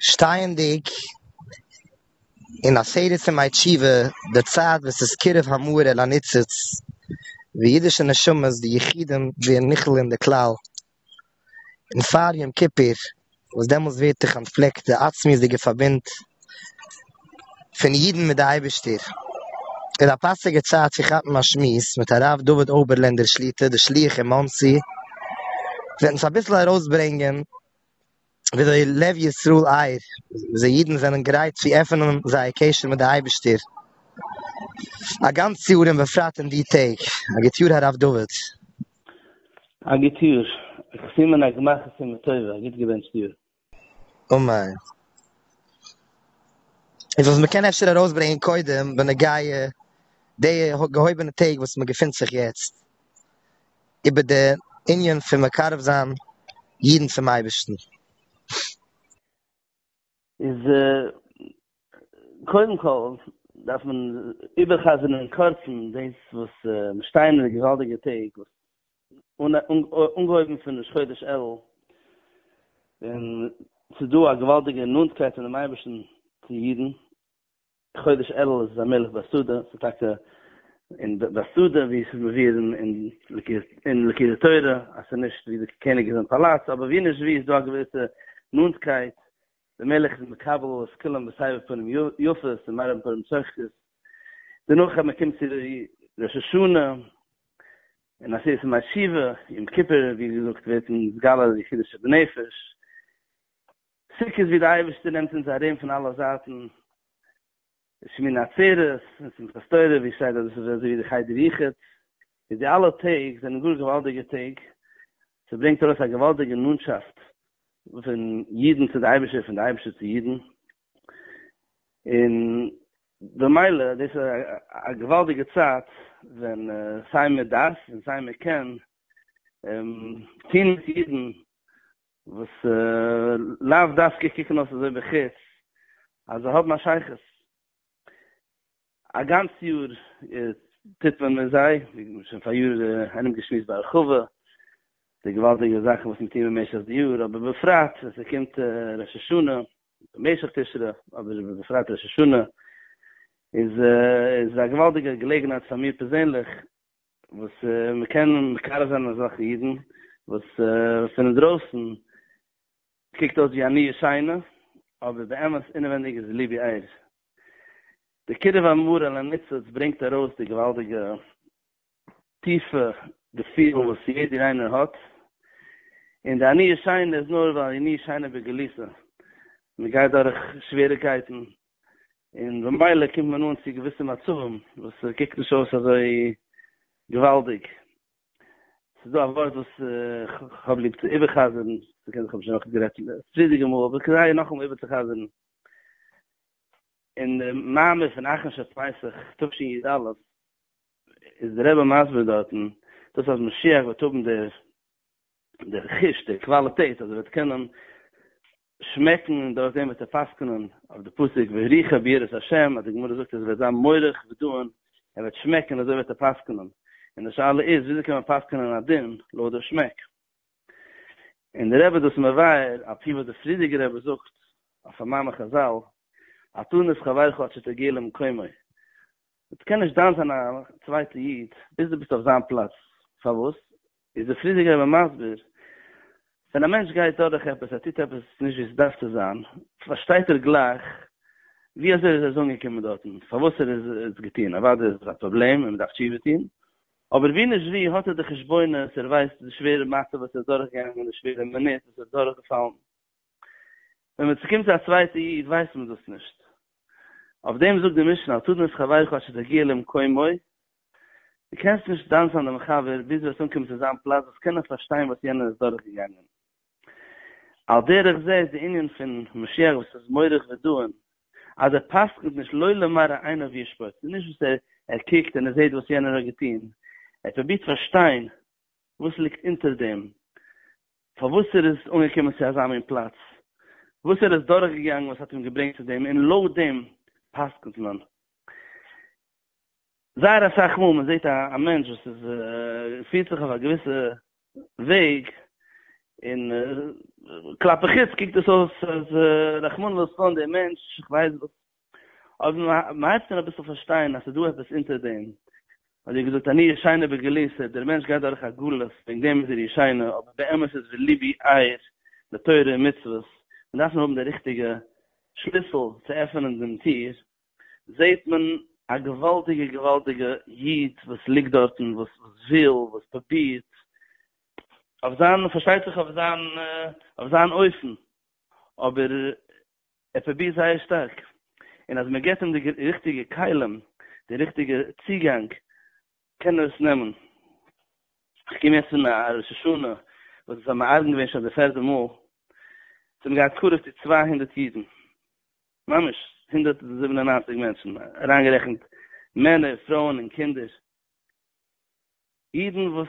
שטייענדיג אין א סדר פון מיי תשובה די צייט וואס איז קירוב המאור אל הניצוץ ווי אידישע נשמות די יחידים ווערן נכלל אין די כלל און פאר יום כיפור וואס דעמאלס ווערט דער קאנפליקט די עצמיות'דיגע פארבינד פון אידן מיט די אייבערשטער איז א פאסיגע צייט צו כאפן א שמועס מיט הרב דוד אויבערלענדער שליטא די שליח אין מאנסי וועט אונז אביסל ארויסברענגען וויאזוי לב ישראל אייער ז ל אידן זענען גרייט צו עפענען זייער קשר מיט די אייבערשטער א גאנץ יאר און בפרט אין די טעג. א גוט יאר הרב דוד. א גוט יאר, כ'סימן א גמח א סימן טובה, א גוט געבענטשט יאר. אמן. איז וואס מ'קען אפשר ארויסברענגען קודם בנוגע די געהויבענע טעג וואס מ'געפינט זיך יעצט. איבער די ענין פון מקרב זיין אידן צום אייבערשטן. איז קודם כל דארף מען איבערחזר'ן אין קורצן דאס וואס מיר שטייען אין די געוואלדיגע טעג וואס אנגעהויבן פון ראש חודש אלול ווען ס'איז דא א געוואלדיגע נאנטקייט פונעם אייבערשטן צו אידן, חודש אלול איז א מלך בסעודה, ס'איז טאקע אין בסעודה ווי ס'איז מבואר אין ליקוטי תורה אז ס'איז נישט ווי די קעניג איז אין פאלאץ, אבער ווי נישט ווי איז דא א געוויסע נאנטקייט, די מלך איז מקבל את כולם בסבר פנים יפות און מרבין פנים צוחקות, דערנאך אז מ'קומט צו ראש השנה און עשרת ימי תשובה, יום כיפור ווי געזאגט ווערט נתגלה די חידוש שבנפש, סוכות ווי דער אייבערשטער נעמט אונז ארום פון אלע זייטן, און שמיני עצרת און שמחת תורה, ווי שטייט אז דאס איז אזוי ווי די חדר יחוד, איז די אלע טעג זענען גאר געוואלדיגע טעג, ס'ברענגט ארויס א געוואלדיגע נאנטשאפט פון אידן צו די אייבערשטער, פון די אייבערשטער צו אידן, און במילא דאס איז א געוואלדיגע צייט ווען סיי מען דארף און סיי מען קען, טוען אונז אידן וואס לאו דווקא קוקן אויס אזוי בחוץ אז זיי האבן א שייכות, א גאנץ יאר טוט מען מיט זיי, ווי מ'האט שוין פאריאר ארומגעשמועסט בהרחבה, די געוואלדיגע זאכן וואס מ'טוט במשך די יאר, אבער בפרט ווען ס'קומט ראש השנה, במשך תשרי, אבער בפרט ראש השנה, איז עס א געוואלדיגע געלעגנהייט פאר מיר פערזענליך וואס מען קען מקרב זיין אזעלכע אידן וואס פון אינדרויסן קוקט אויס ווי א ניו שיינע אבער באמת אינעווענדיג איז ליבי אייער. די קירוב המרה לניצוץ ברענגט ארויס די געוואלדיגע טיפע געפילן וואס יעדער איינער האט און די ניו שיינע איז נאר ווייל ניו שיינע בגלותו מען גייט דורך שוועריקייטן און במילא קומט מען אן צו געוויסע מצבים וואס ס'קוקט נישט אויס אזוי געוואלדיג. ס'איז דא א ווארט וואס כ'האב ליב צו איבער'חזר'ן, ס'קען זיך אפשר נאכנישט גערעדט פריערדיגע מאל, אבער כדאי נאכאמאל איבערצוחזר'ן. אין די מאמר פון אחרון של פסח תשי ד איז דער רבי מסביר דארטן, דאס אז משיח וועט האבן דער חוש, דער קוואליטעט, אז ער וועט קענען שמעקן און דורך דעם וועט ער פסקנ'ן אויף די פסוק והריחה ביראת השם אז די גמרא זאגט אז ער וועט זיין מורך ודוען ער וועט שמעקן אזוי וועט ער פסקנ'ן און די שאלה איז וויאזוי קען מען פסקנ'ן א דין לויט די שמעק און די רבי האט דאס מבאר אפי' וואס די פרידיגע רבי זאגט אויף א מאמר חזל התן את חברך עד שתגיע למקומו דו קען נישט דן זיין א צווייטע איד ביז דו ביסט אויף זיין פלאץ פארוואס איז דער פריערדיגער רבי מסביר, ווען א מענטש גייט דורך עפעס, ער טוט עפעס נישט ווי עס דארף צו זיין, פארשטייט ער גלייך ווי אזוי ער איז אזוי אנגעקומען דארטן, פארוואס ער איז עס געטון, אוודאי איז עס א פראבלעם און מען דארף תשובה טון, אבער ווי נישט ווי האט ער די חשבונות, ער ווייסט די שווערע מצב וואס ער איז דורכגעגאנגען, די שווערע מינוט וואס ער איז דורכגעפאלן. ווען מען צוקומט צו א צווייטע איד ווייסט מען דאס נישט. אויף דעם זאגט די משנה אל תדון את חברך עד שתגיע למקומו, דו קענסט נישט דאנסען דעם חבר ביז וועסט אנקומען צו זיין פלאץ וואס קען ער פארשטיין וואס יענער איז דורך געגאנגען. על דרך זה איז די ענין פון משיח וואס איז מוריך ודן אז ער פסק'נט נישט לא למראה עיניו ישפוט, ס'איז נישט וואס ער ער קוקט און ער זעט וואס יענער האט געטון, ער פרובירט פארשטיין וואס ליגט אונטער דעם, פארוואס ער איז אנגעקומען צו אזא מין פלאץ, וואס ער איז דורכגעגאנגען וואס האט אים געברענגט צו דעם, און לויט דעם פסק'נט מען. זייער אסאך מאל מען זעט א מענטש וואס איז פירט זיך אויף א געוויסע וועג, און כלפי חוץ קוקט עס אויס אז רחמנא לצלן דער מענטש, איך ווייס וואס אבער מען הייבט אן אביסל פארשטיין אז ס'איז דא עפעס אונטער דעם, האט ער געזאגט אני ישנה בגלותא, דער מענטש גייט דורך א גלות וועגן דעם איז ער ישנה, אבער באמת איז וליבי ער לתורה ומצוות, מען דארף נאר האבן די ריכטיגע שליסל צו עפענען דעם טיר, זעט מען א געוואלדיגע געוואלדיגע איד וואס ליגט דארטן וואס וויל וואס פרובירט אויף זיין פארשטייט זיך אויף זיין אויף זיין אופן, אבער ער פרובירט זייער שטארק, און אז מען געבט אים די ריכטיגע כלים, די ריכטיגע צוגאנג, קען ער עס נעמען. איך קום יעצט פון א ראש השנה וואס איז א מארגן געווען שוין די פערטע מאל, זיי האבן געהאט קרוב צו צוויי הונדערט אידן, ממש הונדערט זיבן און נײַנציק מענטשן, אריינגערעכנט מענער, פרויען און קינדער, אידן וואס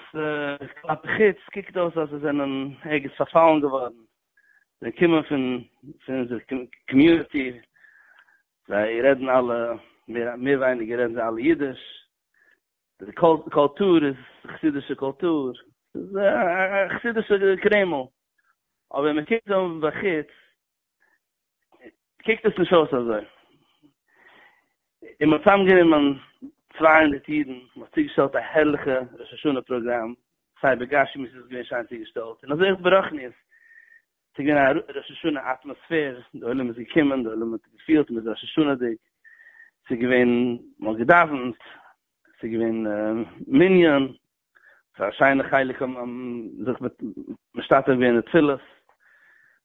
כלפי חוץ קוקט אויס אז זיי זענען ערגעץ פארפאלן געווארן, זיי קומען פון פון אונזער קאמיוניטי, זיי רעדן אלע, מער ווייניגער רעדן זיי אלע אידיש, די קולטור איז חסידישע קולטור, ס'איז א חסידישע קרעמל, אבער מען קוקט אן מבחוץ קוקט עס נישט אויס אזוי. און מען האט צוזאם גענומען צוויי הונדערט אידן, מען האט צוגעשטעלט א הערליכע ראש השנה פראגראם, סיי בגשמיות איז עס געווען שיין צוגעשטעלט, און אזוי אויך ברוחניות, עס איז געווען א ראש השנה אטמאספער, די עולם איז געקומען, די עולם האט געפילט מען איז ראש השנה'דיג, עס איז געווען, מען האט געדאווענט, עס איז געווען מנין, ס'איז א שיינע חלק און זיך מיט משתתף געווען אין די תפילות,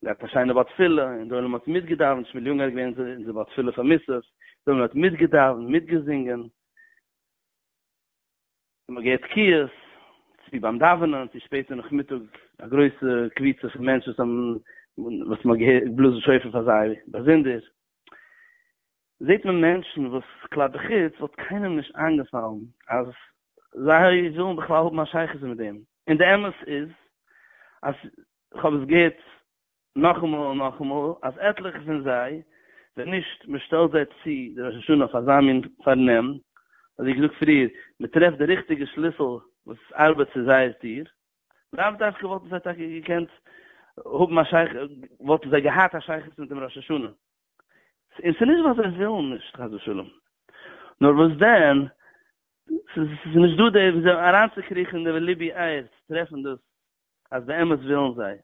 געהאט א שיינע בר תפילה, און די עולם האט מיטגעדאווענט, שמואל יונגערהאט געווען אין די בר תפילה פאר מוסף, די עולם האט מיטגעדאווענט, מיטגעזינגען, און מ'האט געהערט תקיעות, צו ביים דאווענען, צו שפעטער נאכמיטאג, א גרויסע קבוצה פון מענטשן וואס האבן, וואס מ'האט געהערט, געבלאזן שופר פאר זיי באזונדער. זעט מען מענטשן וואס כלל בחוץ וואלט קיינעם נישט איינגעפאלן אז זיי ווילן בכלל האבן א שייכות מיט דעם, און די אמת איז אז כ'האב עס געהערט נאכאמאל און נאכאמאל אז עטליכע פון זיי ווען נישט מען שטעלט זיי צו די ראש השנה אויף אזא מין פארנעם, אזוי געזאגט פריער, מען טרעפט די ריכטיגע שליסל וואס ארבעט צו זייער טיר, לאו דווקא וואלטן זיי טאקע געקענט האבן א שייכות, וואלטן זיי געהאט א שייכות מיט דעם ראש השנה, און ס'איז נישט ווייל זיי ווילן נישט חס ושלום, נאר וואס דען, ס'איז נישט דא די ווי אזוי אריינצוקריכן אין די ליבי אייער צו טרעפן דאס אז באמת ווילן זיי.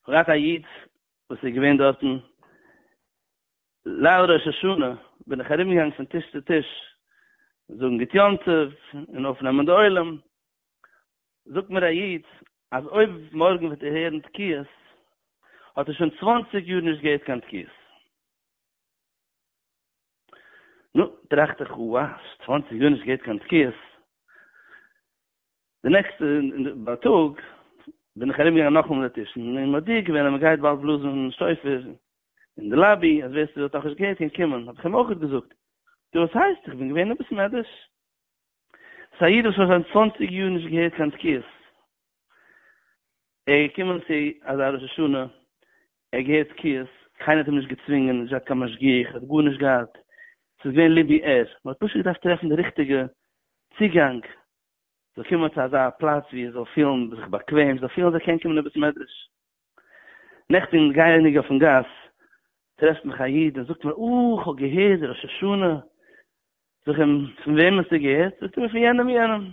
כ'האב געהאט א איד וואס איז געווען דארטן, ליל ראש השנה בין איך ארומגעגאנגען פון טיש צו טיש זאגן גוט יום טוב און אויפנעמען די עולם, זאגט מיר א איד אז אויב מארגן וועט ער הערן תקיעות האט ער שוין צוואַנציק יאר נישט געהערט קיין תקיעות. נו, טראכט איך, אוה, צוואַנציק יאר נישט געהערט קיין תקיעות, די נעקסטע בייטאג בין איך ארום געגאנגען נאכאמאל דערטישן און מודיע געווען אז מען גייט באלד בלאזן שופר אין די לאבי אז ווער ס'האט נאכנישט געהערט קען קומען, האב איך אים אויך געזאגט, דו וואס הייסט איך בין געווען אביסל נערוויש. ס'איז א איד וואס האט שוין צוואנציג יאר נישט געהערט קיין תקיעות. ער איז געקומען צו אזא ראש השנה, ער האט געהערט תקיעות, קיינער האט אים נישט געצווינגען, נישט געהאט קיין משגיח, ער האט גארנישט געהאט, ס'איז געווען ליבי ער. מ'האט פשוט געדארפט טרעפן די ריכטיגע צוגאנג זאל קומען צו אזא פלאץ ווי ער זאל פילן זיך באקוועם, זאל פילן אז ער קען קומען אין בית מדרש. נעכטן גייעניג אויפן גאס טרעפט מיך א איד און זאגט מיר אה כ'האב געהערט די ראש השנה, זאג אים פון וועם האסטו געהערט, זאגט ער מיר פון יענעם יענעם,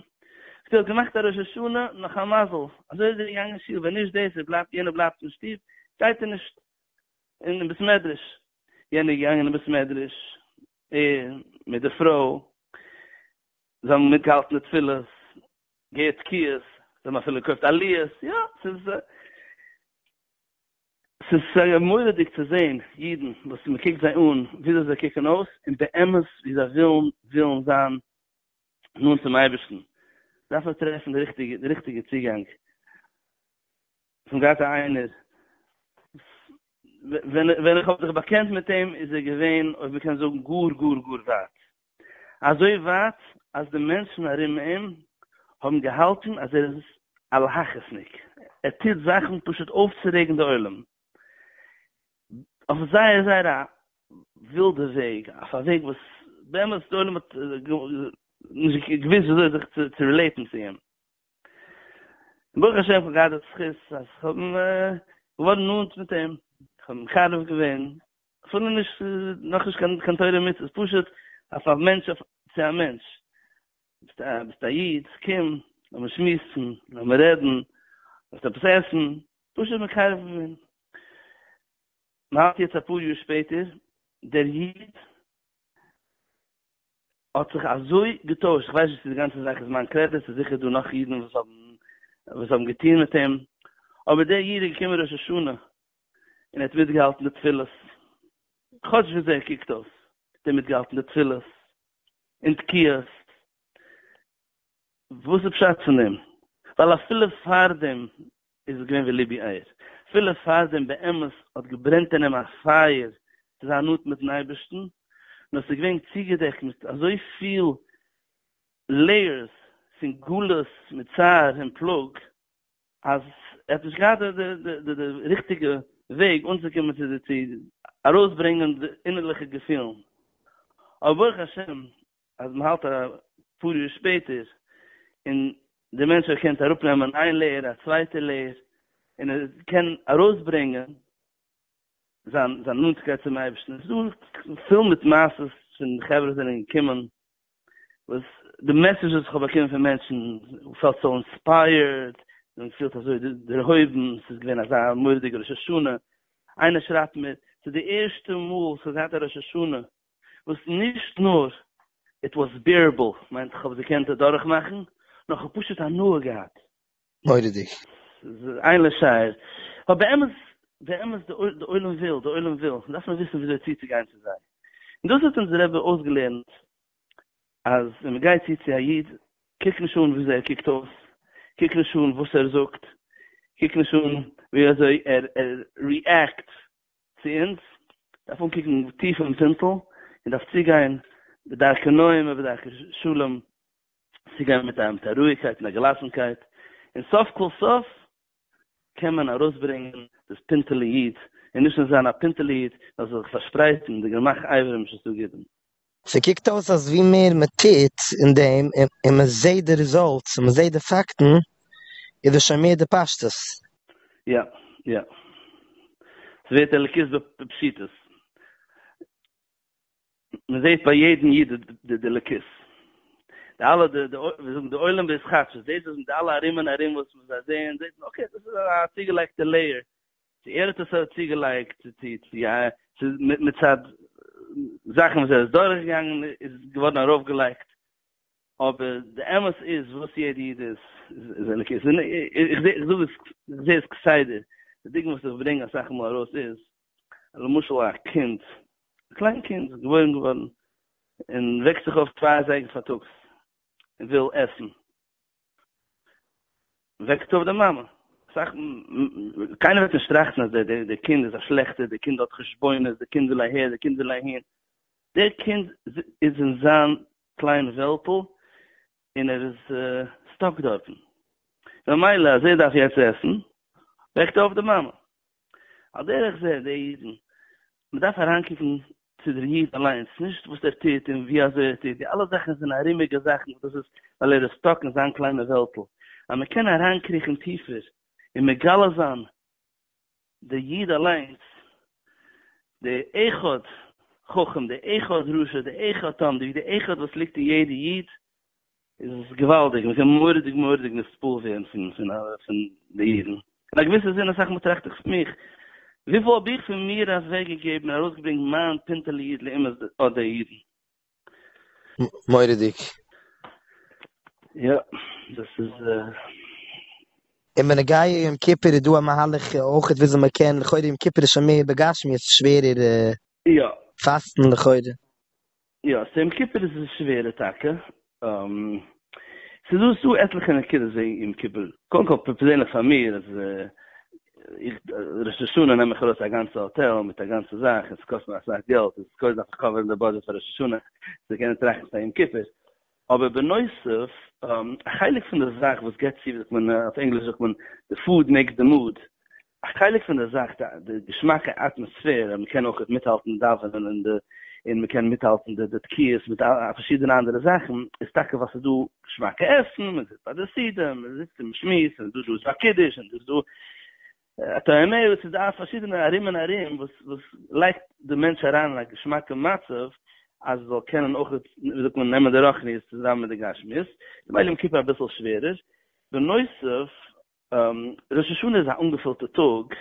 זאגט ער האט געמאכט א ראש השנה נאך א מזל, אזוי איז ער געגאנגען שול, ווען נישט דאס ער בלייבט יענער בלייבט אין שטוב גייט ער נישט אין בית מדרש, יענער איז געגאנגען אין בית מדרש ער מיט די פרוי, זיי האבן מיטגעהאלטן די תפילות, געהערט תקיעות, זיי האבן אפילו געקויפט א ליעס, יא, ס'איז, ס'איז מורא'דיג צו זען אידן וואס מען קוקט זיי אן וויאזוי זיי קוקן אויס, און באמת ווי זיי ווילן ווילן זיין נאנט צום אייבערשטן, דארף מען טרעפן די ריכטיגע די ריכטיגע צוגאנג, צום גאט איינער, ווען איך האב זיך באקענט מיט אים איז ער געווען, אויב מען קען זאגן, גאר גאר גאר ווייט. אזוי ווייט אז די מענטשן ארום אים האבן געהאלטן אז ער איז א להכעיס'ניק, ער טוט זאכן פשוט אויפצורעגן די עולם, אויף זייער זייער א ווילדע וועג, אויף א וועג וואס באמת די עולם האט נישט געוואוסט וויאזוי זיך צו רילעיטן צו אים. און ברוך השם כ'האב געהאט די זכות אז כ'בין געווארן נאנט מיט אים, כ'האב מקרב געווען אפילו נישט נאך נישט קיין קיין תורה ומצוות פשוט אויף א מענטש צו א מענטש ביסט א ביסט א איד קום לאמיר שמועסן לאמיר רעדן ווילסט עפעס עסן פשוט מקרב ווערן מ'האלט יעצט אפאר יאר שפעטער דער איד האט זיך אזוי געטוישט איך ווייס נישט צו די גאנצע זאך איז מיין קרעדיט ס'איז זיכער דא נאך אידן וואס האבן וואס האבן געטון מיט אים אבער דער איד איז געקומען ראש השנה און ער האט מיטגעהאלטן די תפילות, כאטש וויאזוי ער קוקט אויס האט ער מיטגעהאלטן די תפילות און תקיעות, וואס איז פשט פון דעם? ווייל אפילו פארדעם איז עס געווען ווי ליבי אייער, אפילו פארדעם באמת האט געברענט אין אים א פייער צו זיין נאנט מיט'ן אייבערשטן, נאר עס איז געווען צוגעדעקט מיט אזויפיל לעיערס פון גלות מיט צער און פלאג, אז ער האט נישט געהאט די ריכטיגע וועג אנצוקומען צו די צו ארויסברענגען די אינערליכע געפילן, אבער ברוך השם אז מען האלט אפאר יאר שפעטער און דער מענטש ער קען אראפנעמען איין לעיער א צווייטע לעיער און ער קען ארויסברענגען זיין זיין נאנטקייט צום אייבערשטן, ס'דא פול מיט מעשות פון חברה וואס זענען געקומען וואס די מעסעדזשעס וואס כ'האב באקומען פון מענטשן, מ'פעלט סאו אינספייערד, און מ'פילט אזוי דערהויבן, ס'איז געווען אזא מורא'דיגע ראש השנה, איינער שרייבט מיר, ס'איז די ערשטע מאל וואס כ'האב געהאט א ראש השנה וואס נישט נאר איט וואס בעירעבל, מיינט כ'האב עס געקענט אדורכמאכן, נאר כ'האב פשוט הנאה געהאט. מורא'דיג. איין לשער, ווייל באמת באמת די עולם וויל, די עולם וויל, דארף מען וויסן וויאזוי צוצוגיין צו זיי, און דאס האט אונז רבי אויסגעלערנט, אז ווען מען גייט צו צו א איד, קוק נישט אן וויאזוי ער קוקט אויס, קוק נישט אן וואס ער זאגט, קוק נישט אן ווי אזוי ער ריעקט צו אונז, דארף אנקוקן טיף אין פינטל, און דארף צוגיין בדרכי נועם ובדרכי שלום צוגיין מיט א אמתע רואיגקייט און א געלאסנקייט, און סוף כל סוף קען מען ארויסברענגען דאס פינטעלע איד, און נישט נאר זיין א פינטעלע איד, נאר זיך שפרייטן אין די גמח אברים ש ס ג. ס'קוקט אויס אז ווי מער מ'טוט אין דעם און מ'זעט די רעזאלטס און מ'זעט די פאקטן, איז דאס שוין מער די פשטות. יא, יא. ס'ווערט אלוקית בפשיטות. מען זעט ביי יעדן איד די דליקות, די אלע די די ווי זאגן די עולם וואס כאטש איז דאס וואס די אלע ארום און ארום וואס זיי זעען זעט מען אקעי דאס איז א צוגעלייגטע לעיער, צו ער האט עס צוגעלייגט צו צו צו א צו מצד זאכן וואס ער איז דורך געגאנגען איז געווארן ארויף געלייגט, אבער די אמת איז וואס יעדע איד איז איז אלוקית, איך זע איך זאג עס איך זע עס כסדר, די דוגמא וואס איך ברענג אסאך מאל ארויס איז למשל א קינד, א קליין קינד איז געבוירן געווארן און וועקט זיך אויף צוויי אזייגער פארטאגס און וויל עסן, וועקט אויף די מאמע, אסאך, קיינער וועט נישט טראכטן אז דער קינד איז א שלעכטער, דער קינד האט חשבונות, דער קינד וויל אהער, דער קינד וויל אהין, דער קינד איז אין זיין קליין וועלטל און ער איז סטאק דארטן, ממילא אז ער דארף יעצט עסן, וועקט ער אויף די מאמע. על דרך זה די אידן, מען דארף אריינקוקן צו דער איד אליינס, נישט וואס ער טוט און ווי אזוי ער טוט, די אלע זאכן זענען ארומיגע זאכן וואס דאס איז ווייל ער איז סטאק אין זיין קליינע וועלטל, אז מען קען אריינקריכן טיפער און מגלה זיין די איד אליינס, די אחד חכם, די אחד רשע, די אחד תם, די אחד וואס ליגט אין יעדע איד, איז עס געוואלדיג, מען קען מורא'דיג מורא'דיג נספּל ווערן פון פון פון די אידן. אין א געוויסע זין אסאך מאל טראכט איך פון מיך, וויפיל האב איך פון מיר אוועק געגעבן און ארויסגעברענגט מיין פינטעלע איד לעומת אט די אידן. מורא'דיג. יא, דאס איז. און בנוגע יום כיפור איז דא א מהלך אויכעט וויאזוי מען קען, לכאורה יום כיפור איז שוין מער בגשמיות שווערער. יא. פאסטן לכאורה. יא, אויף יום כיפור איז עס שווערער טאקע. ס'איז דא ס'איז דא עטליכע נקודות וועגן יום כיפור. קודם כל פערזענליך פאר מיר אז איך ראש השנה נעם איך ארויס א גאנצע האטעל מיט א גאנצע זאך און ס'קאסט מיר אסאך געלט און קודם דארף איך קאווערן די בודזשעט פאר ראש השנה צו קענען טראכטן פאר יום כיפור. אבער בנוסף, א חלק פון די זאך וואס געט צו, ווי זאגט מען, אויף ענגליש זאגט מען, די פוד מעיקס די מוד, א חלק פון די זאך, די געשמאקע אטמאספערע, מען קען אויך מיטהאלטן דאווענען און די, און מען קען מיטהאלטן די די תקיעות מיט פארשידענע אנדערע זאכן, איז טאקע ווייל ס'איז דא געשמאקע עסן, מען זיצט ביי די סידור, מען זיצט און מען שמועסט, און דא איז דא קידוש, און דא איז דא. אתה אומר עס איז דא פארשידענע ארום און ארום וואס וואס לייגט די מענטש אריין אין א געשמאקע מצב אז זאל קענען אויך ווי זאגט מען נעמען די רוחניות צוזאמען מיט די גשמיות ממילא יום כיפור אביסל שווערער בנוסף ראש השנה איז א אנגעפילטע טאג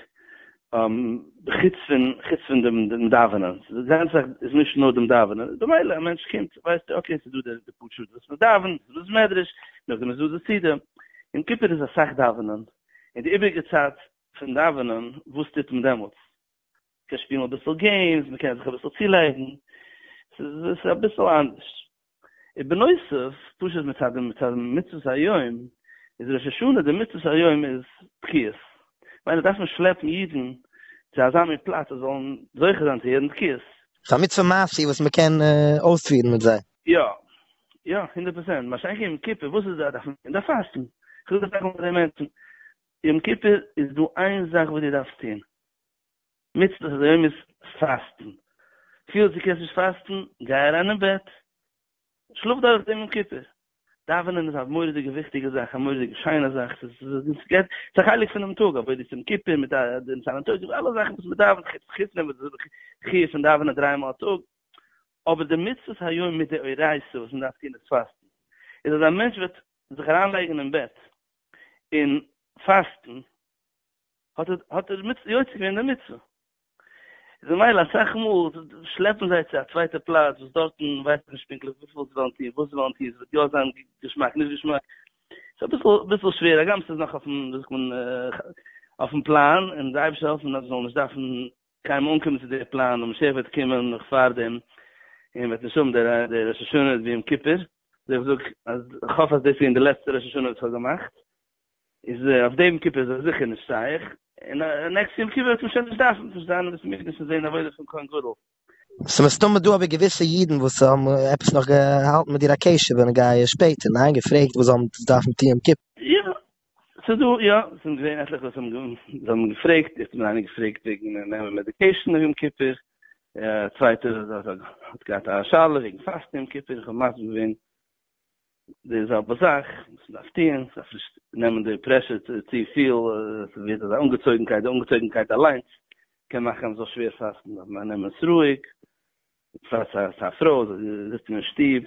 חוץ פון חוץ פון דעם דאווענען די גאנצע זאך איז נישט נאר דעם דאווענען במילא א מענטש קומט ווייסט ער אקעי עס איז דא די פאר שעות וואס מען דאווענט עס איז דא בית מדרש נאכדעם איז דא די סעודה יום כיפור איז אסאך דאווענען און די איבריגע צייט פון דאווענען וואס טוט מען דעמאלטס? מען קען שפילן אביסל געימס, מען קען זיך אביסל צולייגן, ס'איז אביסל אנדערש. ובנוסף, פשוט מצד די מצות היום, איז ראש השנה די מצות היום איז תקיעות. ממילא דארף מען שלעפן אידן צו אזא מין פלאץ זיי זאלן זוכה זיין צו הערן תקיעות. ס'איז א מצוה מעשי וואס מען קען אויספירן מיט זיי. יא יא הונדערט פראצענט, מה שאין כן יום כיפור וואס איז דא דארף מען דארף פאסטן, כ'וויל דאס זאגן פאר די מענטשן, יום כיפור איז דא איין זאך וואס דו דארפסט טון, מצוות אדער יומית פאסטן, פיהלסט דו קענסט נישט פאסטן, גיי אריין אין בעט, שלאף דורך דעם יום כיפור, דאווענען איז א מורא'דיגע וויכטיגע זאך, א מורא'דיגע שיינע זאך, ס'איז א חלק פונעם טאג, אבער דאס יום כיפור מיט די ניסן און תשרי אלע זאכן וואס מ'דאווענט חוץ חוץ נעמען די חיוב פון דאווענען דריי מאל א טאג, אבער די מצוות היום מדאורייתא וואס מ'דארף טון איז פאסטן, איז אז א מענטש וועט זיך אריינלייגן אין בעט און פאסטן, האט ער האט ער יוצא געווען די מצוה. איז ממילא אסאך מאל שלעפן זיי צו א צווייטע פלאץ וואס דארטן ווייסט מען נישט פונקטליך וויפיל זיי וועלן טון, וואס זיי וועלן טון, ס'וועט יא זיין געשמאק נישט געשמאק, ס'איז אביסל אביסל שווער, הגם ס'איז נאך אויפן וויאזוי זאגט מען אויפן פלאן, און די אייבערשטער העלפן אז מ'זאל נישט דארפן קיים אנקומען צו די פלאן און משיח וועט קומען נאך פארדעם און וועט נישט האבן די ראש השנה ווי יום כיפור, זעה איך זאג אז איך האף אז דאס ווי אין די לעצטע ראש השנה וואס איך האב געמאכט איז אויף די יום כיפור איז עס זיכער נישט שייך און נעקסטע יום כיפור וועט מען שוין נישט דארפן נישט זיין אין בית המקדש און זעהן עבודה פון כהן גדול. ס'איז מסתמא דא אבער געוויסע אידן וואס האבן עפעס נאך געהאלטן מיט דיר א קשר בנוגע שפעטער, ניין? געפרעגט וואס זאל מען דארפן טון יום כיפור? יא, ס'איז דא, יא, ס'זענען געווען עטליכע וואס האבן זיי האבן געפרעגט, איך בין איינער געפרעגט וועגן נעמען מעדיקעישן אויף יום כיפור, א צווייטער האט געהאט א שאלה וועגן פאסטן יום כיפור, איך האב מסביר געווען די זעלבע זאך וואס מ'דארף טוהן, מ'דארף נישט נעמען די פרעשור צופיל, ס'ווערט אזא אנגעצויגנקייט, די אנגעצויגנקייט אליינס קען מאכן אז מ'זאל שווער פאסטן, דארף מען נעמען עס רואיג, בפרט פאר א פרוי, זי זיצט אין שטוב,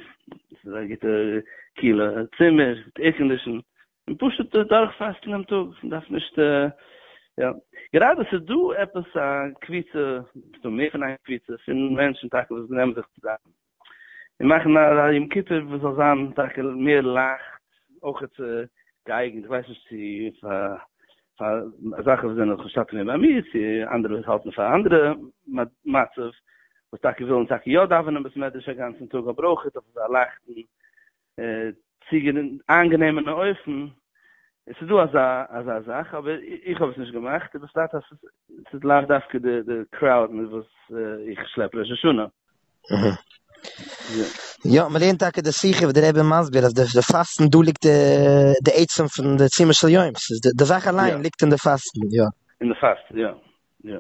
עס איז א גוטע קיהלע צימער, מיט עירקאנדישן, און פשוט דורך פאסטן דעם טאג, מען דארף נישט, יא, גראדע עס איז דא עפעס א קבוצה, עס דא מער פון איין קבוצה, פון מענטשן טאקע וואס נעמען זיך צוזאם, און מאכן א יום כיפור וואס זאל זיין טאקע מער לייכט, אויך געאייגענט, איך ווייס נישט צו פאר פאר זאכן וואס זענען לכאורה שטאטע מער באמיר צו אנדערע וואס האלטן פאר אנדערע מצב וואס טאקע ווילן טאקע יא דאווענען בית מדרש א גאנצן טאג אבער אויך אויף אזא לייכטן צוגענ איינגענעמענע אופן עס איז דא אזא אזא זאך אבער איך האב עס נישט געמאכט און בפרט אז עס איז לאו דווקא די קראוד מיט וואס איך שלעפ ראש השנה. יא, מען לערנט טאקע די שיחה וואס די רבי איז מסביר אז די פאסטן דא ליגט די עצם פון די צימעס של יום, ס'איז די זאך אליין ליגט אין די פאסטן, יא. אין די פאסטן, יא, יא.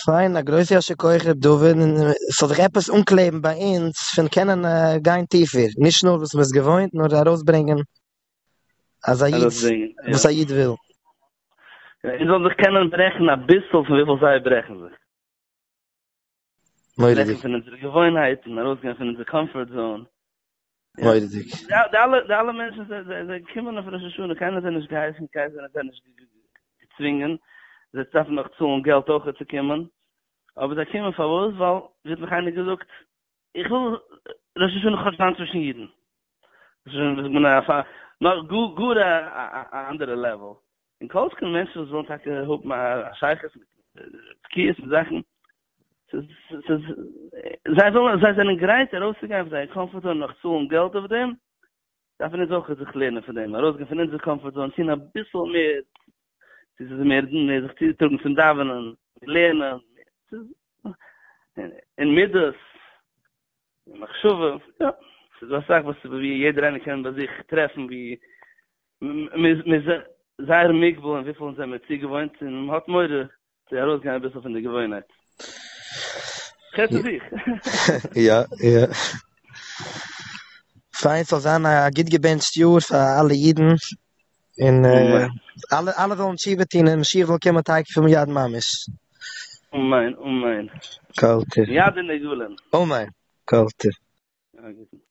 פיין, א גרויסע יישר כח ר' דוד, און ס'זאל זיך עפעס אנקלעבן ביי אונז פון קענען גיין טיפער, נישט נאר וואס מען איז געוואוינט, נאר ארויסברענגען אז א איד, וואס א איד וויל. אונז זאלן זיך קענען ברעכן אביסל פון וויפיל זיי ברעכן זיך. מורא'דיג. פון אונזערע געוואוינהייטן, ארויסגיין פון אונזער קאמפארט זאון. מורא'דיג. די אלע, די אלע מענטשן זיי קומען אויף ראש השנה, קיינער האט זיי נישט געהייסן, קיינער האט זיי נישט געצווינגען, זיי דארפן נאך צאלן געלט אויכעט צו קומען, אבער זיי קומען פארוואס? ווייל ווי האט נאך איינער געזאגט? איך וויל ראש השנה כאטש זיין צווישן אידן, ראש השנה איז מן א נאך גאר א אנדערע לעוועל, און כל שכן מענטשן וואס ווילן טאקע האבן א שייכות מיט תקיעות און זאכן, זיי ווילן, זיי זענען גרייט ארויסצוגיין פון זייער קאמפארט זאון, נאך צאלן געלט אויף דעם, דארפן אונז אויך זיך לערנען פון דעם, ארויסגיין פון אונזער קאמפארט זאון, טון אביסל מער, צו ס'איז מער זיך צוטראגן צום דאווענען, לערנען, אין מידות, אין מחשבה, יא, ס'איז דא אסאך וואס ווי יעדער איינער קען ביי זיך טרעפן ווי מ'איז זייער מוגבל אין וויפיל אונז זעמיר צוגעוואוינט און מ'האט מורא צו ארויסגיין אביסל פון די געוואוינהייט. כ'רעד פון זיך. יא, יא. פיין, ס'זאל זיין א גוט געבענטשט יאר פאר אלע אידן. און אלע אלע וועלן תשובה טון און משיח זאל קומען תיכף ומיד ממש. אמן אמן. כל טוב. מיד אין עגלון. אמן. כל טוב.